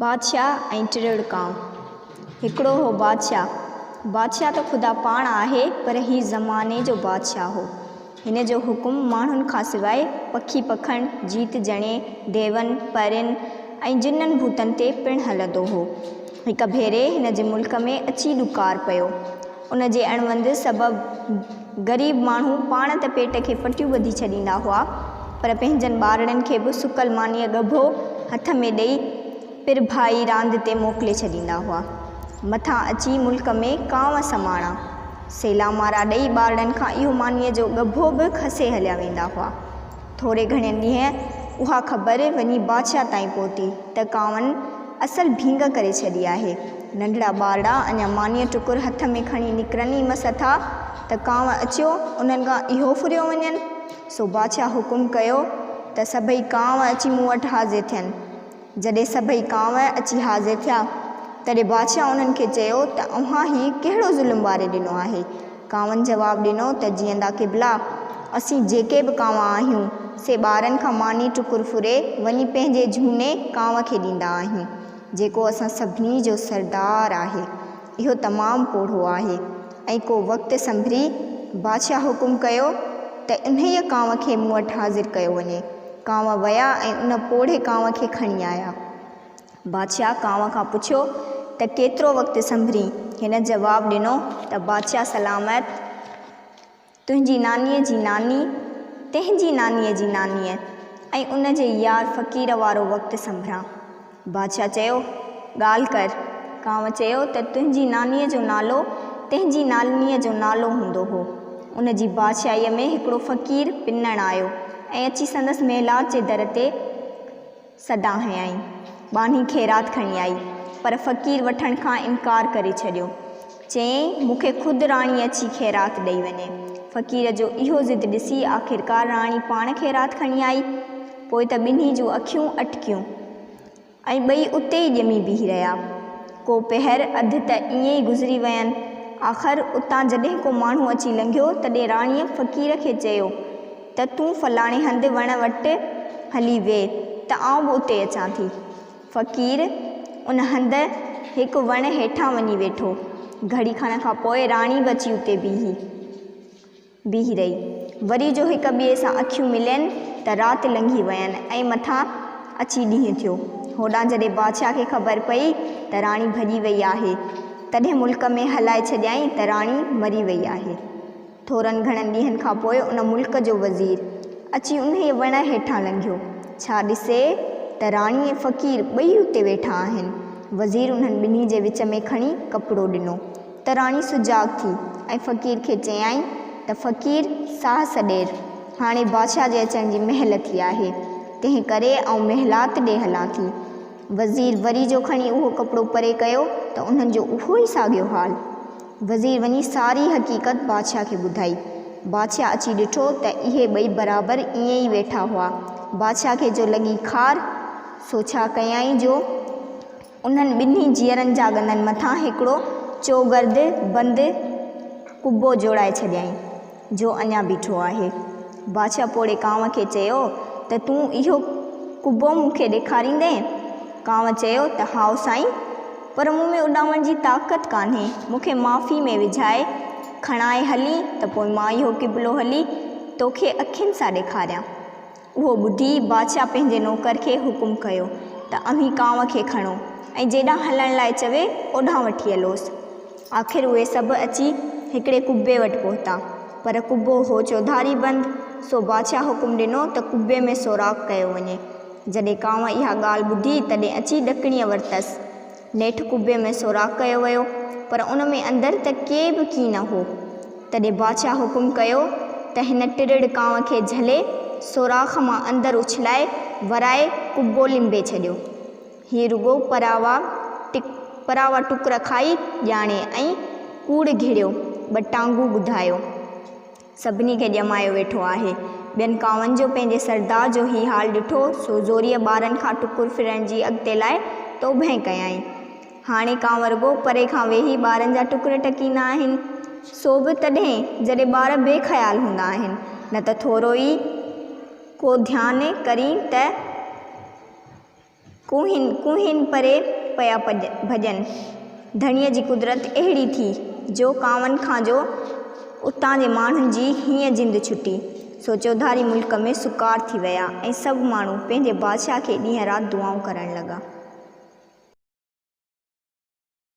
بادشاهه ۽ ٽرڙ ڪانء. هڪڙو هو بادشاهه. بادشاهه ته خدا پاڻ آهي پر هي زماني جو بادشاهه هو. هن جو حڪم ماڻهن کان سواء پکي پکڻ، جيت جڻي، ديون، پرين ۽ جنن ڀوتن تي پڻ هلندو هو. هڪ ڀيري هن جي ملڪ ۾ اچي ڏڪار پيو. ان جي اڻهوند سبب غريب ماڻهو پاڻ ته پيٽ کي پٽيون ٻڌي ڇڏيندا هئا پر پنهنجن ٻارڙن کي به سڪل مانيء ڳڀو هٿ ۾ ڏئي پرڀ ڀائي راند تي موڪلي ڇڏيندا هئا. مٿان اچي ملڪ ۾ ڪانء سماڻا، سيلامارا ڏئي ٻارڙن کان اهو مانيء جو ڳڀو به کسي هليا ويندا هئا. ٿوري گهڻي ڏينهن اها خبر وڃي بادشاهه تائين پهتي ته ڪانئن اصل ڀينگ ڪري ڇڏي آهي. ننڍڙا ٻارڙا اڃا مانيء ٽڪر هٿ ۾ کڻي نڪرن ئي مس ٿا ته ڪانء اچيو انهن کان اهو ڦريو وڃن. سو بادشاهه حڪم ڪيو ته سڀئي ڪانء اچي مون وٽ حاضر ٿين. جڏهن سڀئي ڪانء اچي حاضر ٿيا، تڏهن بادشاهه انهن کي چيو ته اوهان هي ڪهڙو ظلم واري ڏنو آهي؟ ڪانئن جواب ڏنو ته جيئندا قبلا! اسين جيڪي به ڪانء آهيون، سي ٻارن کان ماني ٽڪر ڦري وڃي پنهنجي جهوني ڪانء کي ڏيندا آهيون، جيڪو اسان سڀني جو سردار آهي. اهو تمام پوڙهو آهي. ۽ ڪو وقت سنڀري بادشاهه حڪم ڪيو ته انهيء ڪانء کي مون وٽ حاضر ڪيو وڃي. ڪانء ويا ۽ ان پوڙهي ڪانء کي کڻي آيا. بادشاهه ڪانء کان پڇيو ته ڪيترو وقت سنڀرين؟ هن جواب ڏنو ته بادشاهه سلامت تنهنجي نانيء جي ناني، تنهنجي نانيء جي نانيء ۽ ان جي يار فقير وارو وقت سنڀران. بادشاهه چيو، ڳالهه ڪر. ڪانء چيو ته تنهنجي نانيء جو نالو تنهنجي نانيء جو نالو هوندو هو. ان جي بادشاهيء ۾ هڪڙو فقير پنڻ آيو ۽ اچي سندس محلات جي در تي. سڏا هنيائين. ٻانهي خيرات کڻي آئي، پر فقير وٺڻ کان انڪار ڪري ڇڏيو. چيائين، مون کي خود راڻي اچي خيرات ڏئي وڃي. فقير جو اهو ضد ڏسي آخرڪار راڻي پاڻ خيرات کڻي آئي. پوء ته ٻنهي جون اکيون اٽڪيون ۽ ٻئي اتي ئي ڄمي بيهي رهيا. ڪو پهر اڌ ته ائين ئي گذري وين. آخر اتان جڏهن ڪو ماڻهو اچي لنگهيو، تڏهن راڻيء فقير کي چيو، ته تون فلاڻي هنڌ وڻ وٽ هلي ويهه ته آئون به اتي اچان ٿي. فقير ان هنڌ هڪ وڻ هيٺان وڃي ويٺو. گهڙي کن کان پوء راڻي به اچي اتي بيهي بيهي رهي. وري جو هڪ ٻئي سان اکيون ملين ته رات لنگهي وين ۽ مٿان اچي ڏينهن ٿيو. هوڏانهن جڏهن بادشاهه کي خبر پئي ته راڻي ڀڄي وئي آهي، تڏهن ملڪ ۾ هلائي ڇڏيائين ته راڻي مري وئي آهي. ٿورن گهڻن ڏينهن کان پوء ان ملڪ جو وزير اچي انهيء وڻ هيٺان لنگهيو. ڇا ڏسي ته راڻي ۽ فقير ٻئي اتي ويٺا آهن. وزير انهن ٻنهي جي وچ ۾ کڻي ڪپڙو ڏنو ته راڻي سجاڳ ٿي ۽ فقير کي چيائين ته فقير، ساهه سڏير، هاڻي بادشاهه جي اچڻ جي مهل ٿي آهي، تنهن ڪري آئون محلات ڏي هلان ٿي. وزير وري جو کڻي اهو ڪپڙو پري ڪيو ته انهن جو اهو ئي ساڳيو حال. وزير وڃي ساري حقيقت بادشاهه کي ٻڌائي. بادشاهه اچي ڏٺو ته اهي ٻئي برابر ائين ئي ويٺا هئا. بادشاهه کي جو لڳي خار، سو ڇا ڪيائين جو انهن ٻنهي جيئرن جا ڳنن مٿان هڪڙو چوگرد بند قبو جوڙائي ڇڏيائين. جو اڃا بيٺو آهي. بادشاهه پوڙهي ڪانء کي چيو ته تون اهو قبو مون کي ڏيکاريندين؟ ڪانء چيو ته هائو سائين، پر مون ۾ اڏامڻ جي طاقت ڪانهي، مون کي معافي ۾ وجهائي، کڻائي هلين ته پوء مان اهو قبلو هلي توکي اکين سان ڏيکاريان. اهو ٻڌي بادشاهه پنهنجي نوڪر کي حڪم ڪيو ته اوهين ڪانء کي کڻو ۽ جيڏانهن هلڻ لاء چوي اوڏانهن وٺي هلوس. آخر اهي سڀ اچي هڪڙي قبي وٽ پهتا، پر قبو هو چوڌاري بند، سو بادشاهه حڪم ڏنو ته قبي ۾ سوراخ ڪيو وڃي. جڏهن ڪانء اها ڳالهه ٻڌي، تڏهن اچي ڏڪڻيء ورتس. نيٺ قبي ۾ سوراخ ڪيو ويو، پر ان ۾ اندر ته ڪي به ڪي نه هو. تڏهن بادشاهه حڪم ڪيو ته هن ٽرڙ ڪانء کي جهلي، سوراخ مان اندر اڇلائي، ورائي قبو لنبي ڇڏيو. هي رڳو پراوا ٽڪ پراوا ٽڪر کائي ڄاڻي ۽ ڪوڙ گهڙيو، ٻه ٽانگون ٻڌايو. سڀني کي ڄمايو ويٺو آهي. ٻين ڪاوهن جو پنهنجي سردار جو هي حال ڏٺو سو زوريء ٻارن کان ٽڪر ڦرڻ جي اڳتي لاء توبهين ڪيائين. هاڻي ڪانوء رڳو پري کان ويهي ٻارن جا ٽڪر ٽڪيندا آهن. سو به تڏهن جڏهن ٻار بي خيال هوندا آهن نه ته ٿورو ئي ڪو ڌيان ڪرين ته. ڪوهين ڪوهين پري پيا ڀڄن. ڌڻيء جي قدرت اهڙي ٿي، جو ڪانئن کان جو اتان جي ماڻهن جي هينئن جند ڇٽي، سو چوڌاري ملڪ ۾ سڪار ٿي ويا ۽ سڀ ماڻهو پنهنجي بادشاهه کي ڏينهن رات دعائون ڪرڻ لڳا.